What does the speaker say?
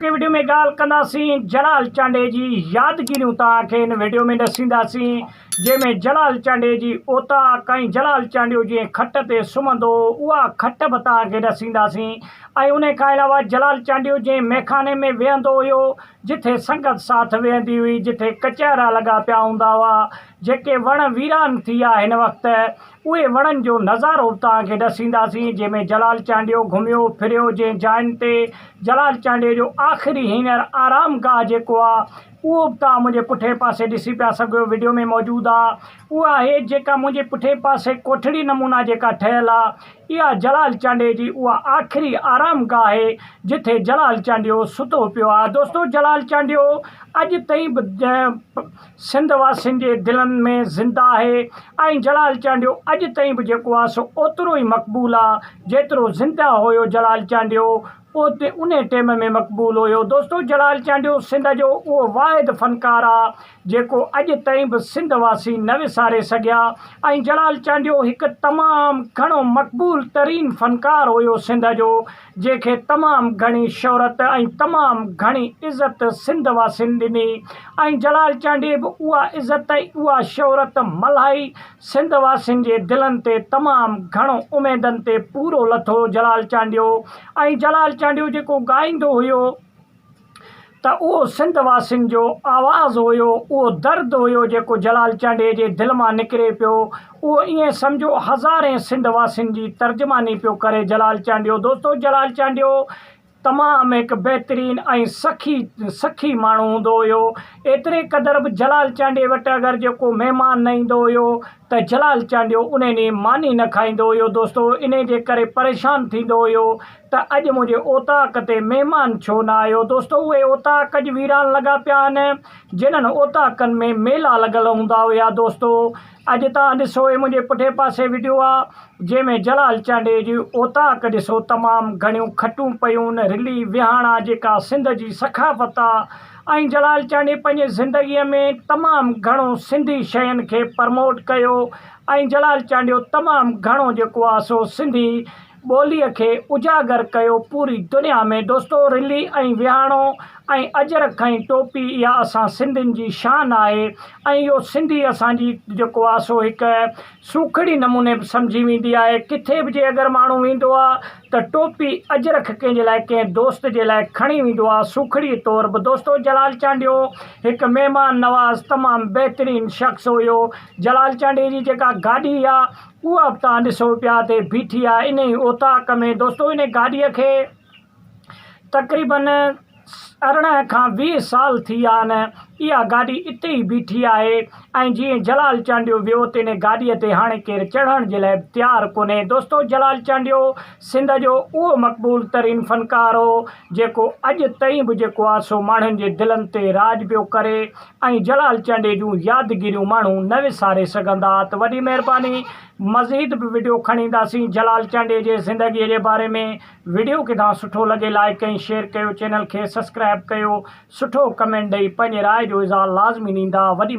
اڳتي وڊيو ۾ ڳالهه ڪنداسين جلال چانڊئي جي يادگيريون توهان کي هن وڊيو ۾ ڏسينداسين جنهن ۾ جلال چانڊئي جي اوطاق ۽ جلال چانڊيو جنهن کٽ تي سمهندو هو اها کٽ به توهان کي ڏسينداسين ۽ انهي کان علاوه جلال چانڊيو جنهن ميخاني ۾ ويهندو هيو جتي سنگت ساٿ ويهندي هئي جتي ڪچهرا لڳا پيا هوندا هئا جيڪي وڻ ويران ٿي ويا هن وقت اهي وڻن جو نظارو به توهان کي ڏسينداسين جنهن ۾ جلال چانڊيو گهميو ڦريو جنهن جاين تي جلال چانڊيو جو آخري هينئر آرام گاهه جيڪو آ اهو به توهان منهنجي پٺئين پاسي ڏسي پيا سگهيو وڊيو ۾ موجود آ اهو آهي جيڪا منهنجي پٺئين پاسي ڪوٺڙي نمونا جيڪا ٺهيل آ اها جلال چانڊيو جي اها آخري آرام گاهه آهي جتي جلال چانڊيو ستو پيو آ دوستو جلال چانڊيو اڄ تائين به سنڌ واسين جي دلن ۾ زنده آهي ۽ جلال چانڊيو اڄ تائين به جيڪو آهي سو اوترو ئي مقبول آهي جيترو زنده هيو جلال چانڊيو اوتي انهي ٽيم ۾ مقبول هيو دوستو جلال چانڊيو سنڌ جو اهو واحد فنڪار آهي جيڪو اڄ تائين به سنڌ واسي نه وساري سگهيا ۽ جلال چانڊيو هڪ تمام گهڻو مقبول ترين فنڪار هيو سنڌ جو جنهن کي تمام گهڻي شهرت ۽ تمام گهڻي عزت سنڌ واسين ڏني ۽ جلال چانڊيي به اها عزت ۽ اها شهرت ملهائي سنڌ واسين جي دلن تي تمام گهڻو اميدن تي پورو لٿو جلال چانڊيو ۽ جلال چانڊيو جيڪو ڳائيندو هيو. ته اهو سنڌ واسين جو آواز هيو، اهو درد هيو جيڪو جلال چانڊيي جي دل مان نڪري پيو، اهو ائين سمجهو هزارين سنڌ واسين جي ترجماني پيو ڪري جلال چانڊيو. دوستو جلال چانڊيو تمام هڪ بهترين ۽ سخي سخي ماڻهو هوندو هيو، ايتري قدر به جلال چانڊيي وٽ اگر جيڪو مهمان نه ايندو هيو ته جلال چانڊيو انهي ڏينهن ماني نه کائيندو هيو دوستو انهي جي ڪري پريشان ٿيندو هيو. ته اڄ منهنجي اوطاق تي مهمان ڇو نه آيو؟ دوستو اهي اوطاق اڄ ويران لڳا پيا آهن، جنھن اوطاقن ۾ ميلا لڳل هوندا هيا. دوستو اڄ توهان ڏسو هي منهنجي پٺئين پاسي وڊيو آ جنهن ۾ جلال چانڊيي جي اوطاق ڏسو تمام گهڻيون کٽون پيون رلي وهاڻا جيڪا سنڌ جي ثقافت آ ۽ جلال چانڊيي پنهنجي زندگي ۾ تمام گهڻو سنڌي شين کي پرموٽ ڪيو ۽ جلال چانڊيو تمام گهڻو جيڪو آ سو سنڌي ٻوليء کي اجاگر ڪيو پوري دنيا ۾ دوستو رلي ۽ وياڻو ۽ اجرڪ ۽ ٽوپي اها اسان سنڌين جي شان آهي ۽ اهو سنڌي اسان جي جيڪو آهي سو هڪ سوکڙي نموني به سمجهي ويندي آهي ڪٿي به جي اگر ماڻهو ويندو آهي ته ٽوپي اجرڪ ڪنهن جي لاء ڪنهن دوست جي لاء کڻي ويندو آهي سوکڙي طور به دوستو جلال چانڊيو هڪ مهمان نواز تمام بهترين شخص هيو جلال چانڊيي جي جيڪا گاڏي آهي اها به توهان ڏسو پيا تي بيٺي آهي انهي اوطاق ۾ دوستو انهي گاڏي کي تقريبن ارڙهن کان ويهه سال ٿي ويا آهن اها گاڏي اتي ئي بيٺي آهي ۽ جيئن جلال چانڊيو ويو ته انهي گاڏي تي هاڻي ڪير چڙهڻ جي لاء به تيار ڪونهي دوستو جلال چانڊيو سنڌ جو اهو مقبول ترين فنڪار هو جيڪو اڄ تائين به جيڪو آ سو ماڻهن جي دلن تي راڄ پيو ڪري ۽ جلال چانڊئي جون يادگيريون ماڻهو نه وساري سگهندا ته وڏي مهرباني مزيد به وڊيو کڻي اينداسين جلال چانڊئي جي زندگي جي باري ۾ وڊيو ڪدا سٺو لڳي لائيڪ ۽ شيئر ڪيو چينل کي سسڪرائب ڪيو سٺو ڪمينٽ ڏئي پنهنجي راء جو اظهار لازمي نيندا وڏي